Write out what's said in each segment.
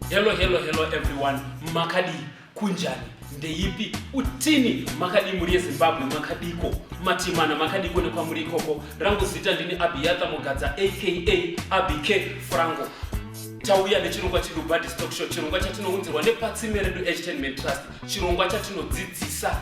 hello hello hello everyone makadii kunjani ndeipi utini makadii mhuri yezimbabwe makadiko matimana makadiko nekwamuri ikoko rangu zita ndini abiyatha mugadza aka abike frango tauya nechirongwa chedu body stock show chirongwa chatinounzirwa nepatsimbe redu entertainment trust chirongwa chatinodzidzisa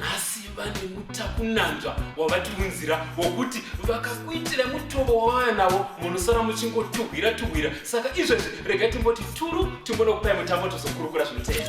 nhasi vane mutakunanzva wavatiunzira wokuti vakakuitira mutobo wavaya navo munosara muchingotugwira tugwira saka izvezvi rega timboti turu timbonokupai mutambo tozokurukura zvinoteera